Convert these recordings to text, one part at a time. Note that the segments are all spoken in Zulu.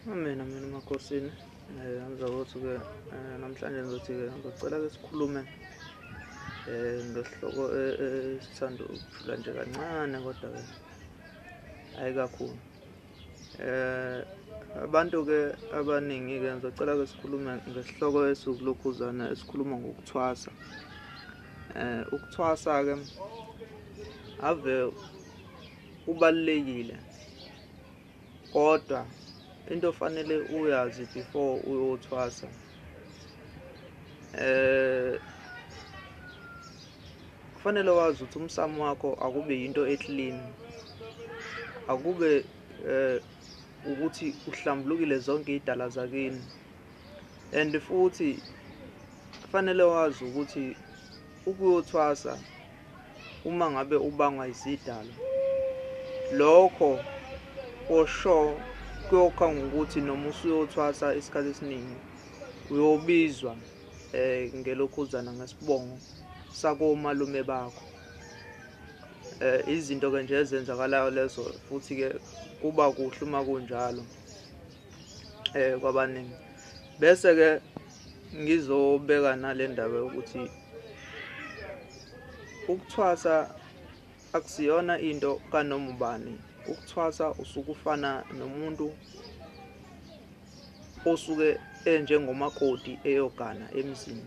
Amen, amen, emakosini. Eh, angiza ukuthi-ke eh, namhlanje ngizothi-ke ngizocela-ke sikhulume eh, ngesihloko eh, eh, sithanda ukujula nje kancane kodwa-ke hhayi kakhulu. Eh, abantu-ke abaningi-ke ngizocela-ke sikhulume ngesihloko esiwukulokhuzana esikhuluma ngokuthwasa. Eh, ukuthwasa-ke ave kubalulekile kodwa into ofanele uyazi before uyothwasa eh kufanele wazi ukuthi umsamo wakho akube yinto eclean akube eh ukuthi uhlambulukile zonke idala zakini and futhi kufanele wazi ukuthi ukuyothwasa uma ngabe ubangwa izidalwa lokho kosho kuyokha ngokuthi noma usuyothwasa isikhathi esiningi uyobizwa eh ngelokhuzana ngesibongo sakomalume bakho eh izinto ke nje ezenzakalayo lezo futhi ke kuba kuhle uma kunjalo eh kwabaningi bese ke ngizobeka nalendaba ukuthi ukuthwasa akusiyona into kanoma ubani ukuthwasa usukufana nomuntu osuke enjengomakoti eyogana emzini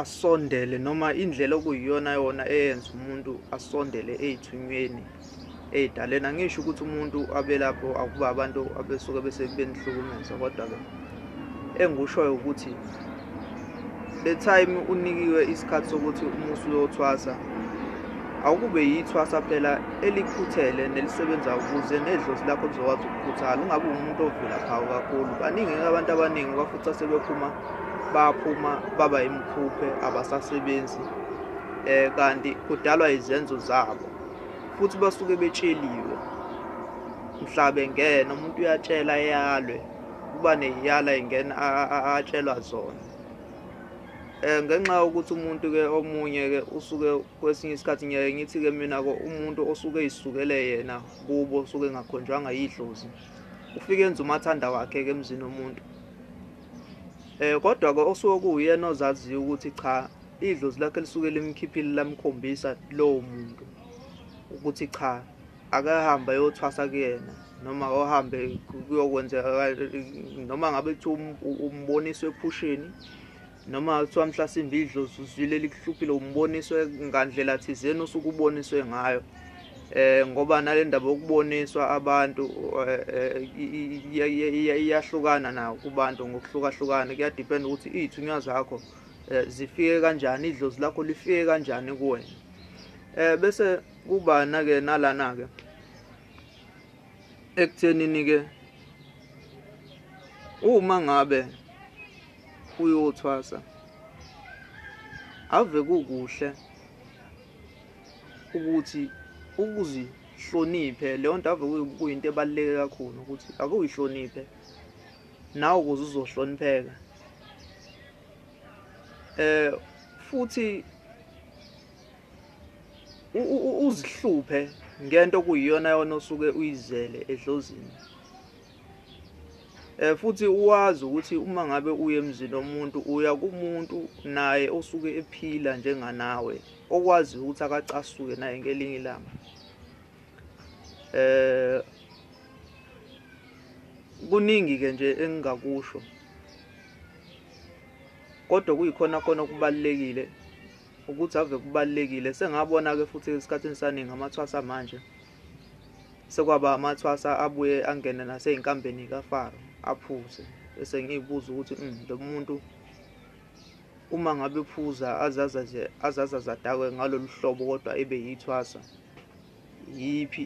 asondele noma indlela okuyiyona yona eyenza umuntu asondele ey'thunyweni ey'daleni angisho ukuthi umuntu abelapho akuba abantu abesuke bese benihlukumeza kodwa-ke engikushoyo ukuthi the time unikiwe isikhathi sokuthi umusi uyothwasa awukube yithwasa phela elikhuthele nelisebenza ukuze nedlozi lakho lizokwazi ukukhuthala ungabe umuntu ovula phawu kakhulu baningi-ke abantu abaningi bafuthi asebephuma baphuma baba imkhuphe abasasebenzi eh kanti kudalwa izenzo zabo futhi basuke betsheliwe mhla bengena umuntu uyatshela eyalwe kuba neyala ingena atshelwa zona eh ngenxa yokuthi umuntu ke omunye ke usuke kwesinye isikhathi ngeke ngithi ke mina ko umuntu osuke isukele yena kubo osuke engakhonjwanga yidlozi ufike enza umathanda wakhe ke emzini womuntu Eh kodwa ke osuke kuwuyena ozaziyo ukuthi cha idlozi lakhe lisuke limkhiphile lamkhombisa lowo muntu ukuthi cha akahambe ayothwasa kuyena noma ohambe kuyokwenzeka noma ngabe kuthiwa um, um, umboniswe ephusheni noma kuthiwa mhlasimbe idlozi uzwile likuhluphile umboniswe ngandlela thizeni osuke uboniswe ngayo eh ngoba nalendaba yokuboniswa abantu eh, eh, iyahlukana na kubantu ngokuhlukahlukana kuyadepend ukuthi izithunywa zakho eh, zifike kanjani idlozi lakho lifike kanjani kuwena eh bese kuba nake nalana ke ekuthenini ke uma ngabe uyothwasa ave kukuhle ukuthi ukuzihloniphe leyo nto ave kuyinto ebaluleke kakhulu ukuthi ake uyihloniphe nawe ukuze uzohlonipheka eh futhi uzihluphe ngento okuyiyona yona osuke uyizele edlozini Eh futhi uwazi ukuthi uma ngabe uye emzini omuntu uya kumuntu naye osuke ephila njenganawe okwazi ukuthi akacasuke naye ngelinye ilanga. Eh kuningi ke nje engingakusho kodwa kuyikhona khona okubalekile ukuthi ave kubalekile sengabona ke futhi esikhathini saningi amathwasa manje Sekwaba amathwasa abuye angene nasey'nkambeni kaFaro aphuze bese ngiy'buza ukuthi mm, lo muntu uma ngabe phuza azaza nje azaza zadakwe ngalolu hlobo kodwa ebe yithwasa yiphi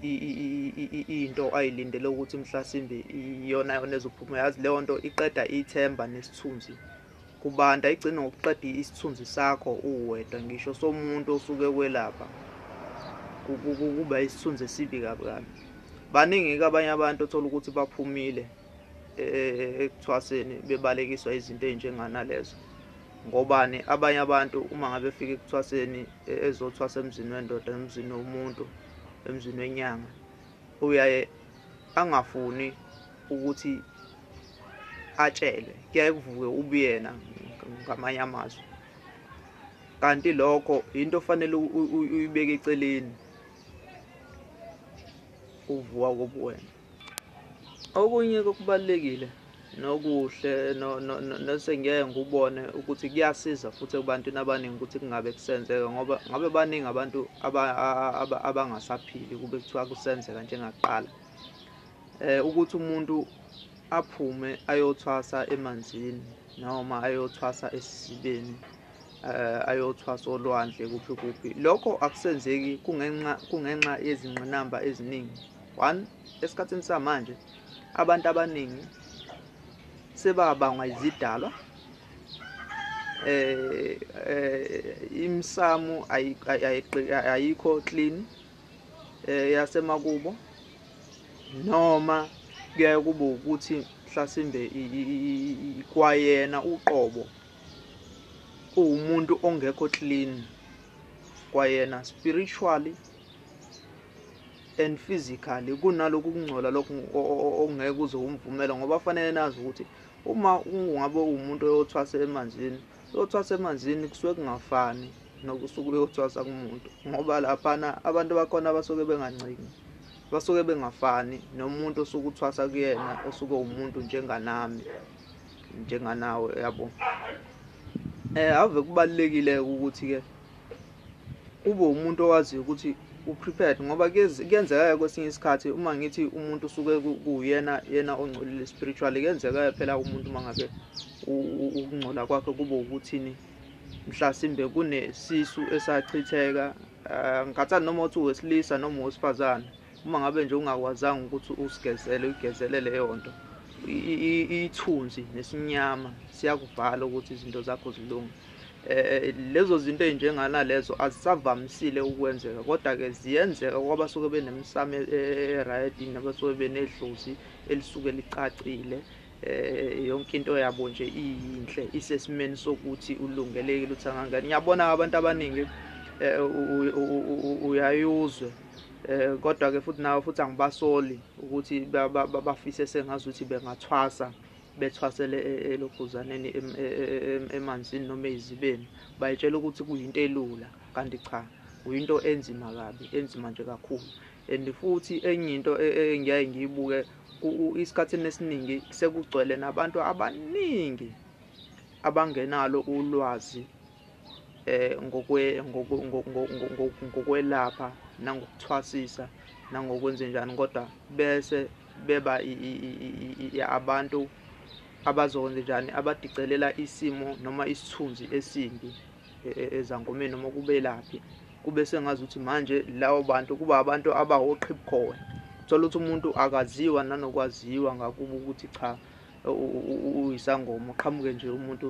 into ayilindele ukuthi mhlasimbe iyona yona ezophuma yazi leyo nto iqeda ithemba nesithunzi Kubanda igcina ngokuqeda isithunzi sakho uwedwa ngisho somuntu osuke kwelapha kuba isithunzi esibi kabi kabi baningi-ke abanye abantu othola ukuthi baphumile e, e, e, ekuthwaseni bebalekiswa izinto ey'njenganalezo ngobani abanye abantu uma ngabe fika ekuthwaseni ezothwasa emzini wendoda emzini womuntu emzini wenyanga uyaye angafuni ukuthi atshelwe kuyaye kuvuke ubuyena ngamanye amazwi kanti lokho yinto ofanele uyibeke eceleni uvuka kobuwena okunye kokubalekile nokuhle nosengiyeke ngikubone ukuthi kuyasiza futhi ebantwini abaningi ukuthi kungabe kusenzeka ngoba ngabe baningi abantu abangasaphili kube kuthiwa kusenzeka njengakuqala um ukuthi umuntu aphume ayothwasa emanzini noma ayothwasa esisibeni um ayothwasa olwandle kuphi kuphi lokho akusenzeki kungenxa kungenxa yezingqinamba eziningi one Esikhathini samanje abantu abaningi sebabangwa izidalwa eh, eh imsamu ayikho clean eh, yasemakubo noma kuyaye kube ukuthi mhlasimbe kwayena uqobo uwumuntu ongekho clean kwayena spiritually and physically kunaloku kungcola lokhu okungeke uze umvumele ngoba fanele nazi ukuthi uma ungabe umuntu oyothwasa emanzini uyothwasa emanzini kusuke kungafani nokusuke uyothwasa kumuntu ngoba laphana abantu bakhona basuke bengancingi basuke bengafani nomuntu osuke uthwasa kuyena osuke umuntu njenganami njenganawe yabo eh ave kubalekile ukuthi ke ube umuntu owaziyo ukuthi u-prepared ngoba kuyenzeka-ke kwesinye isikhathi uma ngithi umuntu usuke kuyena yena ongcolile spiritually kuyenzeka-ke phela umuntu uma ngabe ukungcola kwakhe kube ukuthini mhlasimbe kunesisu esachitheka um ngikhathani noma uthi wesilisa noma wesifazane uma ngabe nje ungakwazanga ukuthi usigezele uyigezele leyo nto ithunzi nesinyama siyakuvala ukuthi izinto zakho zilunge eh lezo zinto ezinjengana lezo azisavamisile ukwenzeka kodwa ke ziyenzeka kwaba soke benemsame eh, right nabasoke benedlozi elisuke licacile eh yonke into yabo nje iyinhle isesimeni sokuthi ulungelekile uthi angangani ngiyabona abantu abaningi eh, uyayuzwe eh kodwa ke futhi nawe futhi angibasoli ukuthi bafise sengazi ukuthi bengathwasa bethwasele e, e, elobhuzaneni emanzini noma eyizibeni bayitshela ukuthi kuyinto elula kanti cha kuyinto enzima kabi enzima nje kakhulu and futhi enye into e, engiyaye ngiyibuke isikhathini esiningi sekugcwele nabantu abaningi abangenalo ulwazi eh, ngokwe, ngokwe, ngokwe, ngokwelapha nangokuthwasisa nangokwenzenjani kodwa bese beba abantu abazokwenza njani abadicelela isimo noma isithunzi esimbi e, e, ezangomeni noma kubelaphi kube sengazi ukuthi manje lawo bantu kuba abantu abawoqhibukhowe thola ukuthi umuntu akaziwa nanokwaziwa ngakuba ukuthi cha uyisangoma uqhamuke nje umuntu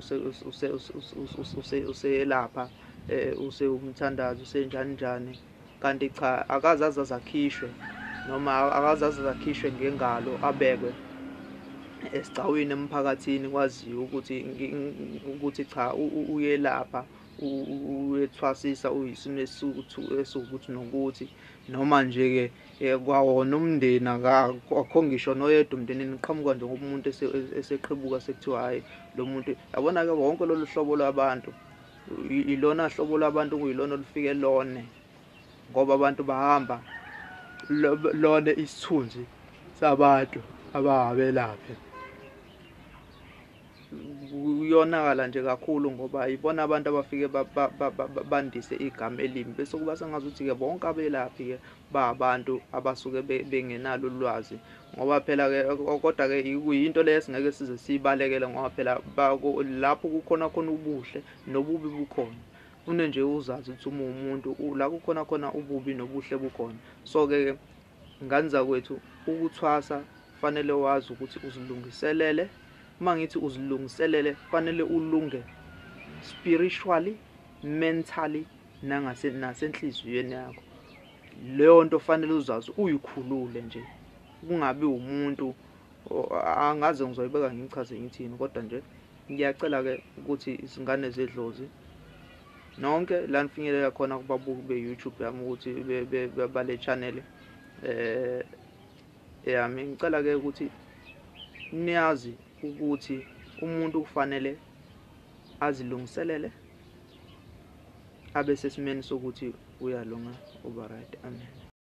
useyelapha eh, usewumthandazi usenjani njani kanti cha akaze aze azakhishwe noma akaze aze azakhishwe ngengalo abekwe esigcawini emphakathini kwaziwa ukuthi ukuthi cha uyelapha uyethwasisa uyisimo esiwukuthi nokuthi noma nje-ke eh, kwawona umndeni akakho ngisho noyedwa umndenini uqhamuka nje ngomuntu eseqhibuka sekuthiwa hhayi lo muntu yabona-ke wonke lolu hlobo lwabantu ilona hlobo lwabantu kuyilona olufike lone ngoba abantu bahamba lone isithunzi sabantu ababelaphe kuyonakala nje kakhulu ngoba yibona abantu abafike bandise igama elimi bese kuba sengazuthi-ke bonke abelaphi-ke ba abantu abasuke bengenalo ulwazi ngoba phela-ke kodwa-ke kuyinto leyo esingeke size siyibalekele ngoba phela lapho kukhona khona ubuhle nobubi bukhona fune nje uzazi ukuthi uma umuntu la kukhona khona ububi nobuhle bukhona so-ke Ngane zakwethu ukuthwasa fanele wazi ukuthi uzilungiselele. Uma ngithi uzilungiselele fanele ulunge spiritually, mentally nangase nasenhliziyweni yakho. Leyo nto fanele uzazi uyikhulule nje. Kungabi umuntu angaze ngizoyibeka ngichaze ngithini kodwa nje ngiyacela ke ukuthi izingane zedlozi nonke la nifinyelela khona kubabuki be-youtube yami ukuthi bale channel um eh, yami ngicela-ke ukuthi niyazi ukuthi umuntu kufanele azilungiselele abe sesimeni sokuthi uyalunga uba right amen